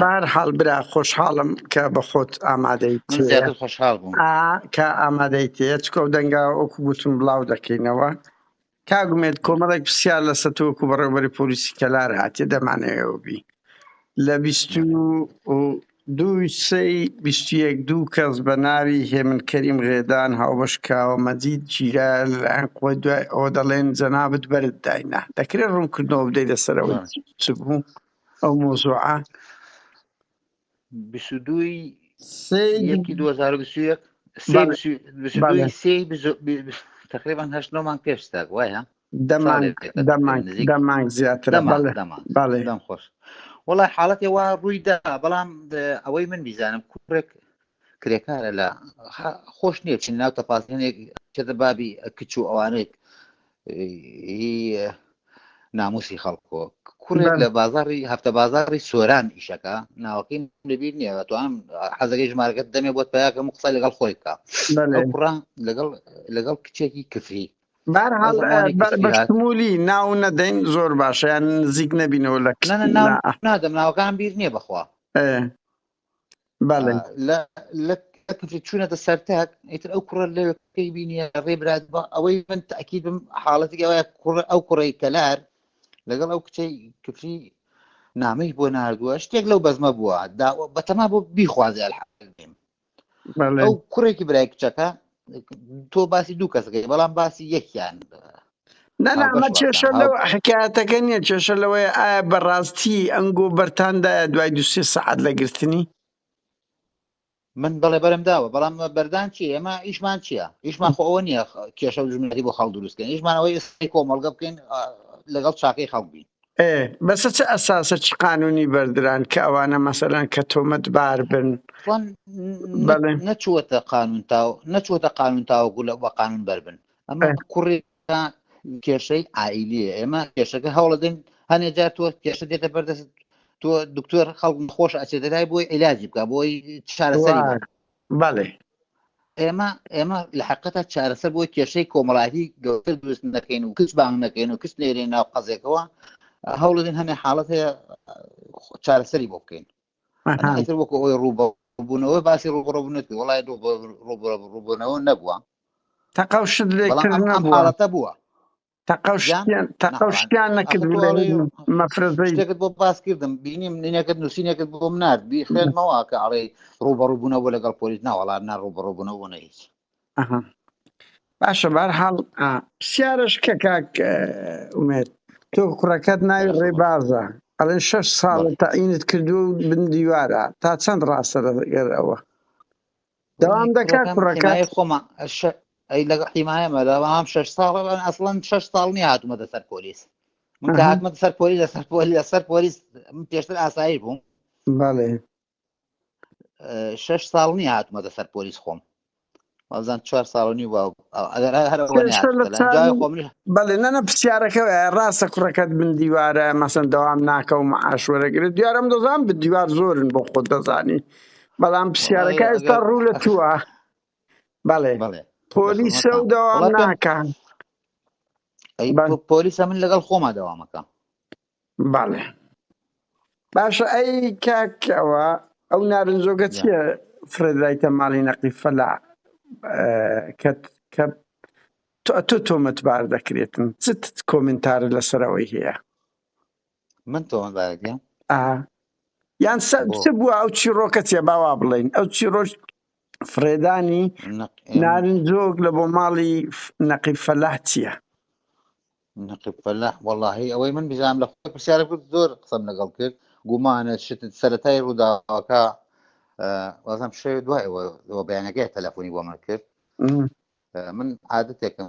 بارحاڵ برا خۆشحاڵم کە بە خۆت ئامادەی خۆشحاڵ بووم کە ئامادەی تێ چکە و دەنگا ئۆکو گوتم بڵاو دەکەینەوە کاگومێت کۆمەڵێک پرسیار لە سەتۆکو بەڕێوبەری پۆلیسی کەلار هااتێ دەمانەوە بی لە بیست دووی سەی بیستیەک دوو کەس بە ناوی هێمن کەریم غێدان هاوبەش کاوە مەجید جیرا لەلایەن قوی دوای ئەوە دەڵێن جەنابەت بەرت داینا دەکرێت ڕوونکردنەوە بدەی لەسەرەوە چ بوو ئەو مۆزوعە بیست و دووی سێی یەکی دوو هەزار و بیست و یەک سێ بەڵێ. بیست و- بیست و بەڵێ. دووی سێی بیست و- بی- بی- تقریبان هەشت نۆ مانگ پێش ستاک وایە دەمانگ ساڵێک دێت، دەمانگ نزیک. دەمانگ زیاترە دەمانگ بەڵێ دەمانگ بەڵێ دەم خۆش وڵای حاڵەتی وا ڕووی دا بەڵام د- ئەوەی من بیزانم کوڕێک کرێکارە لە خا- خۆش نییە چین ناو تەپاسێنێک چێتە بابی کچ و ئەوانێک ناموسی خەڵکۆ کوڕێک لە بازاری هەفتە بازاری سۆران ئیشەکە ناوەکەی لەبییر نیە تو ئەم حەزەکەی ژمارەکەت دەمێ بۆت پیاکەم قسە لەگەڵ خۆی بکە کوڕا لەگەڵ لەگەڵ کچێکی کفری بەشمولی ناو نەدەین زۆر باشیان نزیک نەبینەوە لە نادەم ناوەکان بیر نییە بخوا چوونەتە سەرتاک ئیتر ئەو کوڕە لە پێی بینیە ڕێبرات بە ئەوەی من تاکیید بم حاڵەتی ئەوە کوڕ ئەو کوڕی کەلار لەگەڵ ئەو کچەی کفری نامەی بۆ نردووە شتێک لەو بەزمە بووە بەتەما بۆ بیخوازێ ئەو کوڕێکی برای کچەکە تۆ باسی دوو کەسەکەی بەڵام باسی یەکیان نەنامە کێشە لەو حکایەتەکە نییە کێشە لەوەیە ئایا بەڕاستی ئەنگۆ بەرتاندایە دوای دو سێ سەعات لە گرتنی من بەڵێ بەرم داوە بەڵام بەردان چی ئێمە ئیشمان چییە ئیشمان خۆ ئەوە نییە کێشە و ژمنەتی بۆ خەڵ دروستکەن ئیشمانەوەی ئێستی کۆمەڵگە بکەین لەگەڵ چاکەی خەڵبین ئێ بەسە چ ئەساسە چ قانونی بەردران کە ئەوانە مەسەلەن کە تۆمەت بار بن وان بەڵێ نەچووەتە قانون تا نەچووەتە قانون تاوەکو لە بە قانون بەربن ئەمە ئێ، کوڕی کێشەی عائیلیە ئێمە کێشەکە هەوڵەدەین هەنێ جار تۆ کێشە دێتە بەردەست تۆ دکتۆر خەڵک خۆش ئەچێتە لای بۆی عیلاجی بکە بۆی چارەسەری بکە. وان بەڵێ. ئێمە ئێمە لە حقیقەتە چارەسەر بۆی کێشەی کۆمەڵایەتی گەورەتر دروست نەکەین و کچ بانگ نەکەین و کچ نێرین ناو قەزێکەوە هەوڵدین هەنێ حاڵەت هەیە چارەسەری بۆ بکەین ئەتر وەکو ئەوی ڕووبە بوونەوە باسی ڕوبڕبوونەت وڵای ڕوبڕبوونەوە نەبووە تەقەڵ شت لێکردنەوە حاڵەتە بووە تەقەو یان شتیان تەقەو نەخۆان شتیان ئەخۆ نەکرد تۆ لە ئەڵێ هیچ مەفرەزەی شتێکت بۆ باس کردم بینیم نینەکەت نووسینەکەت بۆم نرد بی خوێنمەوە کە ئەڵێ ڕوبەڕوبوونەوە لەگەڵ پۆلیس ناوەڵات نا ڕوبەڕوبوونەوە نە هیچ ئەها باشە بار حاڵ پرسیارش کە کاک اه، ئومێد تۆ کوڕەکەت ناوی بەرە خۆبەر ڕێبازە ئەڵێن شەش ساڵە بەڵێ تەعینت کردووە و بن دیوارە تا چەند ڕاستە لەگەر ئەوە داوام دەکات کوڕەکە خۆما ئەی لەگە حیمایەمە داوام شش ساڵ ئەسڵەن شش ساڵ نیە هاتومە دەسەر پۆلیس من کە هاتمە سەر پۆلی لەسەر پۆلی لەسەر پۆلیس من پێشتر ئاسایی بووم بەڵێ شش ساڵ نیە هاتومە دەسەر پۆلیس خۆم وازان چوار ساڵنی و بەڵێ نەنە پرسیارەکە ڕاستە کوڕەکەت من دیوارە مەسەن دەوام ناکەم عاشوەرەگرێت دیارم دەزان بە دیوار زۆرن بۆ خۆت دەزانی بەڵام پرسیارەکە ئێستا ڕوو لە تووە بەڵێ پۆلی سە و داوام ناکان پۆلیسە من لەگەڵ خۆما داوامەکە بەڵێ باشە ئەی کاکەوە ئەو نارنجۆگە چیە فرێدرایتە ماڵی نەقی فەلا کە کە تۆ تۆمەتبار دەکرێتن چت کۆمنتار لەسەرەوەی هەیە من تۆمە بارگە یان چ بووە ئەو چیڕۆکە چێ باوا بڵین ئەو چیڕۆژ فرێدانی نارنجۆک لە بۆ ماڵی نەقی فەلاح چییە نەقی فەلاح وەڵی ئەوەی من بزانام لە خۆی پرسیارە کرد زۆر قسەم لەگەڵ کرد گومانە شت سەتای ڕووداوەکە وازم شێ دوای بەیانەکەی تەلەفۆنی بۆ من کرد من عادەتێکم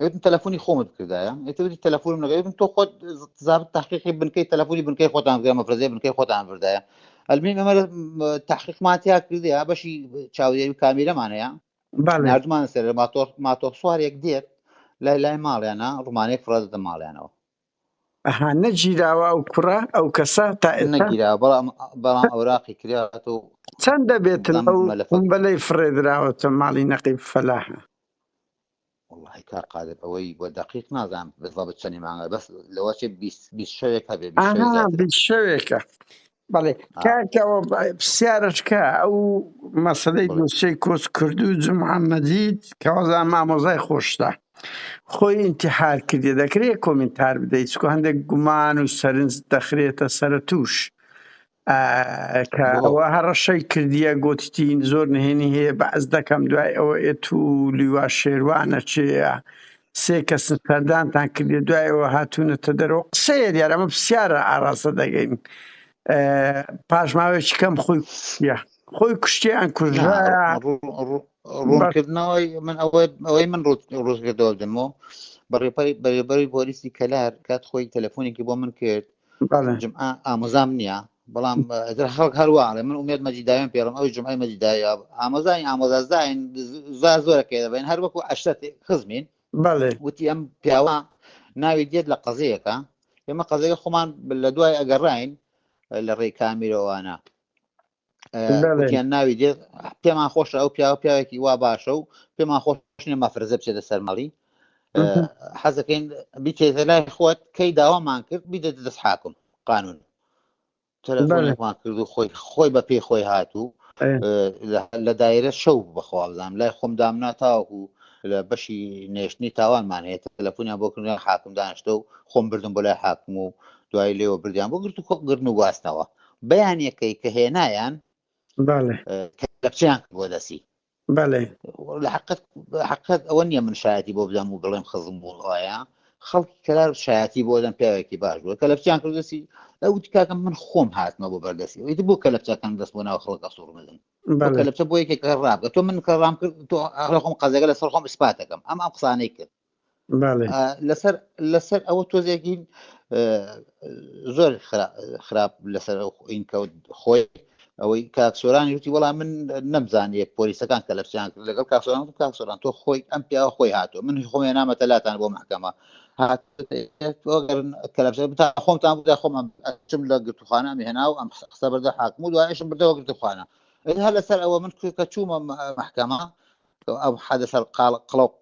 ئەوتم تەلەفۆنی خۆمت بکردایە ئەتوتی تەلەفۆنم نەگەێتم تۆ خۆت زاب تحقیقی بنکەی تەلەفۆنی بنکەی خۆتان بگە مەفرزی بنکەی خۆتان بردایە ئەلمین ئەمە تحقیقماتیا کردیا بەشی چاودێری و کامیرەمان هەیە نردمان سەر ماتۆر ماتۆر سوارێک دێت لای لای ماڵیانە ڕمانەیەک فڕە دە ماڵیانەوە ئەها نەگیراوە ئەو کوڕە ئەو کەسە تا نەگیرا بەڵام بەڵام ئەوراقی کرات و چەند دەبێتن ئەو بەلەی فڕێدراوەتە ماڵی نەقیب فەلاحە وەڵاهی کاک قادر ئەوەی بە دەقیق نازانم بزەبت چەنی مانگە بەس لەوە چێ بیست بیست شەوێک هەبێ بیست شەوێ ئاها زیاتر بیست شەوێکە بەڵێ ئا کاکەوە بە- پرسیارەکە ئەو مەسەلەی بڵێ دۆسێی کۆچ کردو جمعە مەجید کەوازان مامۆزای خۆشتە خۆی ئینتحار کردیە دەکرێ کۆمینتار بدەی چکو هەندێک گومان و سەرنج دەخرێتە سەرە توش کە ئەوە هەڕەشەی کردیە گوتتین زۆر نهێنی هەیە بەعز دەکەم دوای ئەوە ئێت و لیوا شێروانە چێە سێ کەس سەردانتان کردێ دوایەوە هاتوونەتە دەرەوە قسەیە دیار ئەمە پرسیارە ئاراستە دەگەین پاشماوێکی کەم خۆی کوشتە خۆی کوشتیان کوژرا ڕوونکردنەوەی من ئەوەی ئەوەی من ڕوزگردەوە دەمەوە بەڕێپەری بەرێبەری بۆریسی کەلار کات خۆی تەلەفۆنێکی بۆ من کرد بەڵێ. جمعە ئامۆزام نییە، بەڵام ئیتر خەڵک هەر وا ئەڵێ، من ئومێد مەجید داوێن پێڵم، ئەویش جمعەی مەجید داوی ئاب ئامۆزا نین، ئامۆزا زاین، زا زۆرە پێ دەبەین، هەر وەکوو عەشرەت خزمین، بەڵێ. وتی ئەم پیاوە ناوی دێت لە قەزەیەکا، ئێمە قەزەکەی خۆمان لە دوای ئەگەڕاین لە ڕێی کامیرەوانە. وتیان ناوی دێت پێمان خۆشە ئەو پیاوە پیاوێکی وا باشە و پێمان خۆشنێ مەفرزە بچێتە سەرمەڵی حەزەکەین بیتێتە لای خۆت کەی داوامان کرد بیدە دەست حاکم قانون تەلەفۆنێکمان کرد و خۆی خۆی بە پێی خۆی هاتوو لە دایرە شەو بەخوابزانام لای خۆم دامنا تاوەکو لە بەشی نێشتنی تاوانمان هەیە تەلەفۆنیان بۆ کردن حاکم دانیشتە و خۆم بردم بۆ لای حاکم و دوای لێوە بردیان بۆ گرت و کۆ گردن و گواستنەوە بەیانیەکەی کە هێنایان کەلەپچیان بۆ دەسی حقت ئەوە نییە من شایەتی بۆ بدەم و بڵێم خزم بوون ئایا خەڵکی کەلار شایەتی بۆ دەم پیاوێکی باش بووە کە لەپچیان کردسی ئەو تکاکەم من خۆم هاتمە بۆ بەردەسی ئەویت بۆ کە لەپچەکان دەست بۆ ناو خەڵکە سوور بدەن لەپچە بۆ یەکێک ڕابگە تۆ من کە ڕام کرد تۆ خۆم قەزەگە لەسەر خۆم سپاتەکەم ئەم ئەم قسانەی کرد لەسەر لەسەر ئەوە تۆزێکین زۆر خراپ لەسەر ئین کەوت خۆی ئەوەی کاکسۆرانی وتی وەڵام من نەمزانیە پۆلیسەکان کە لەپسیان کرد لەگەڵ کاکسۆران و کاکسۆران تۆ خۆی ئەم پیاوە خۆی هاتو من خۆێ نامەتە لاتان بۆ محکەمە بتا خۆمتان بدا خۆمان ئەچم لە گرتوخانە مهێنا و ئەم قسە بەردە حاکم و دوایشم بردەوە گرتوخانە هەر لەسەر ئەوە من کە چوومە محکەمە ئەم حادثە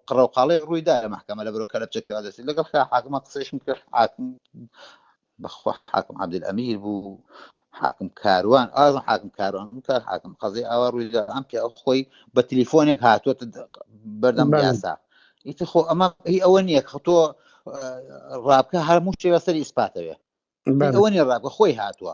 قڕەوقاڵەی ڕوویدا لە مەحکەمە لە بەرۆ کەلەپچە کەوادەسی لەگەڵ خا حاکمە قسەیشم کرد حاکم بەخوا حاکم عبدل ئەمیر بوو حاکم کاروان ئازم حاکم کاروان کە حاکم قەزی ئاوا ڕوویدا ئەم پێ ئەو خۆی بە تلیفۆنێک هاتووە بەردەم یاسا ئیتر خۆ ئەمە هی ئەوە نییە کە تۆ ڕابکە هەر موشتێ لەسەر ئیسپاتەوێ ئەوە نیە ڕابکە خۆی هاتووە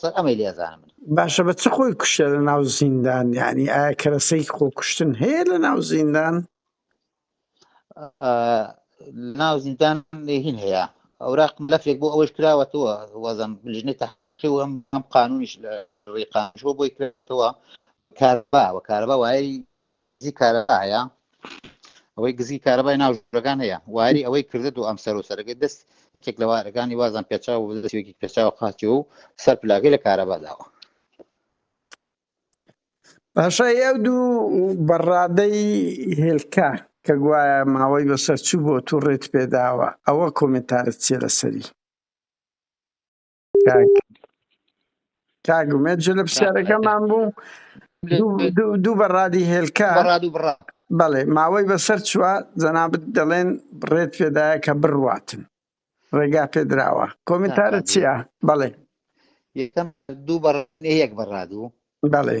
سەر ئەمەی لێزانم من باشە بە چ خۆی کوشتە لە ناو زیندان یعنی ئایا کەرەسەی خۆ کوشتن هەیە لە ناو زیندان ناو زیندان هین هەیە ئەوراق ملفێک بۆ ئەوەش کراوەتەوە وەزم لژنی تحقی و ئەم ئەم قانونیش لە ڕێقانشۆ بۆی کراوە کاربا و کاربا وای گزی کارەبا هەیە ئەوەی گزی کارەبای ناو ژورەکان هەیە واری ئەوەی کردە دوو ئەم سەر و سەرەکەی دەست کێک لە وارەکانی وازان پێچاو و دەستێکی پێچاو قاچی و سەر پلاگەی لە کارەبا داوە باشە ئەو دوو بەڕادەی هێلکە کە گوایە ماوەی بەسەر چوو بۆ تو ڕێت پێداوە ئەوە کۆمنتارت چیە لەسەری کاک کاک ئومێد جل لە کاک ئومێد پرسیارەکەمان بوو دوو دوو دوو بەڕادی هێلکە بەڕاد و بڕا بەڵێ ماوەی بەسەر چووە جەنابت دەڵێن ڕێت پێدایە کە بڕواتن ڕێگا پێدراوە نا کۆمنتارە کاک چییە؟ بەڵێ یەکەم دوو بەڕ یەک بەڕادوو بەڵێ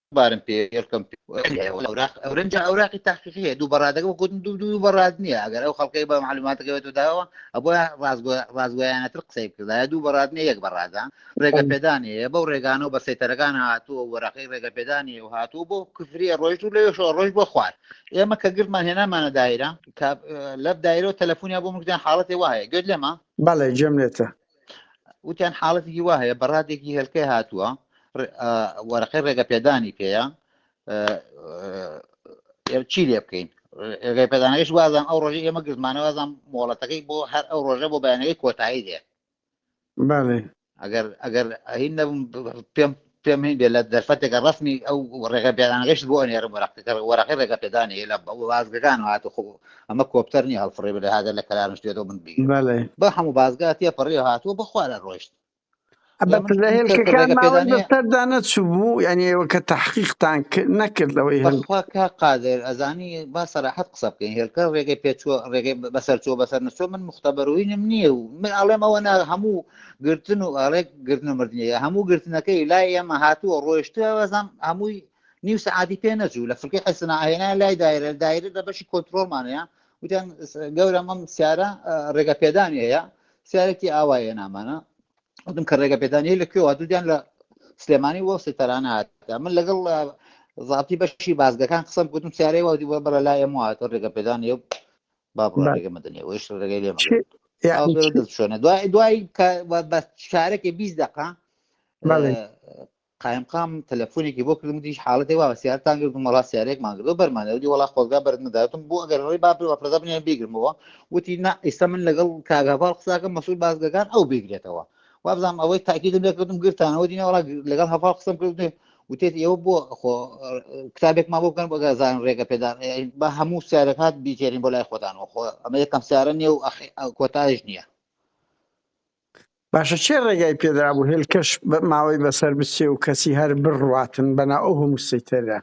بارم پێ هێڵکەم ئەورنج ئەوراقی تاقیقی هەیە دوو بەڕادەکە گوتن دوو دوو بەڕاد نییە ئەگەر ئەو خەڵکەی بە معلوماتەکەوێت و داوە ئەبە ڕازگویانەتر قسەی بکردا دوو بەڕاد نیە یەک بەڕادە ڕێگە پێدان هەیە بەو ڕێگانە و بە سەیتەرەکان هاتووە وەراقی ڕێگە پێدانی و هاتوو بۆ کفریە ڕۆژ و لەوێشەوە ڕۆژ بۆ خوار ئێمە کە گرمان هێنامانە دایرە لەب دایرەوە تەلەفۆنیا بۆ مردیان حاڵەتی وایە گوێت لێمە بەڵێ جێم لێتە وتیان حاڵەتێکی وا هەیە بەڕادێکی هێلکەی هاتووە وەرەقەی ڕێگە پێدانی پێەیە چی لێ بکەین ڕێگەی پێدانەکەش وازان ئەو ڕۆژی ئێمە گرزمانەوازان مۆڵەتەکەی بۆ هەر ئەو ڕۆژە بۆ بەیانەکەی کۆتایی دێ ئەگەر ئەگەر ئەهین نەبم پێم پێم هەین بێ لە دەرفەتێکە ڕەسمی ئەو ڕێگە پێدانەکەشت بۆ ئەنێرم وەرەقەکە وەرەقی ڕێگە پێدانەیە لە بازگەکان هات خۆ ئەمە کۆپتەر نیە هەڵفڕێ بێ هاگەر لە کەلارم شتێتەوە من بگیرم بەڵێ بە هەموو بازگا تێ پەڕێ هاتووە بەخوا لە ڕۆیشت لە من لە من کەس کە هێلکەکان ڕێگە ماوەی پێدانەیە بەسەردا نەچوو بوو یعنی ئێوە کە تحقیقتان کرد نەکرد لەوەی هەن بەخوا کا قادر ئەزانی با سەراحەت قسە بکەین هێلکە ڕێگەی پێچووە ڕێگەی بەسەر چووە بەسەر نەچووە من مختبەروینم نییە و من ئەڵێم ئەوە نا هەموو گرتن و ئەڵێک گرتن و مردنیە هەموو گرتنەکەی لای ئێمە هاتووە ڕۆشتوە بەزان هەمووی نیو سعادی پێ نەچوو لە فکری حسنا هێنا لای دایرە دایرە لە بەشی کۆنتترۆلمانەیە وتیان گەورە مەم سیارە ڕێگە پێدانی هەیە سیارێکی ئاوایە نامانە وتم کە ڕێگە پێدانی لە کوێوە دوودیان لە سلێمانی وە سێتەرانە هات من لەگەڵ زابتی بەشی بازگەکان قسم گوتم سیارەی وەدی وە بەرە لای ئەمواتە ڕێگە پێدانی با بڕۆ ڕێگە مەدەنێ ئەوش ڕێگەی لێ شوێنە دوای دوای بە شارەکە بیست دقا قایمقام تەلەفۆنێکی بۆ کردم دیش حاڵەتی وا سیارتان گرتم وڵا سیارێک ماگرۆ بەرمانەوەی وڵا خۆزگا بەرمداتم بۆ ئەگەر ڕێ با بەپردا بنێن بیگرمەوە وتی نا ئیستا من لەگەڵ کاگاڤڵ قساکە مەسول بازگەکان ئەو بگرێتەوە وابزانم ئەوەی تاکیدم لێ کردم گرتانەوە دینە وڵا لەگەڵ هەفاڵ قسم کرد وتێت ئێوە بۆ خۆ کتابێکمان بۆ بکەن بەگەزان ڕێگە پێدان بە هەموو سیارەکات بیکێنین بۆ لای خۆدانەوە خۆ ئەمە یەکەم سیارە نیە و کۆتایش نییە باشە چێ ڕێگای پێدرا بوو هێلکەش ماوەی بەسەر بچێ و کەسی هەر بڕاتن بەنا ئەو هەموو سیتەرە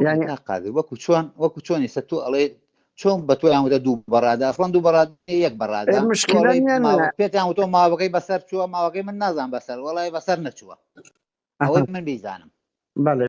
یانی قادر وەکو چۆن وەکو چۆن ئێستا تۆ ئەڵێ چۆن بە تۆ یانوتە دوو بەڕادا ئەسڵەن دوو بەڕاد یەک بەڕادا پێتان تۆ ماوەکەی بەسەر چووە ماوەکەی من نازان بەسەر وڵی بەسەر نەچووە ئەوەی من بیزانم بەڵێ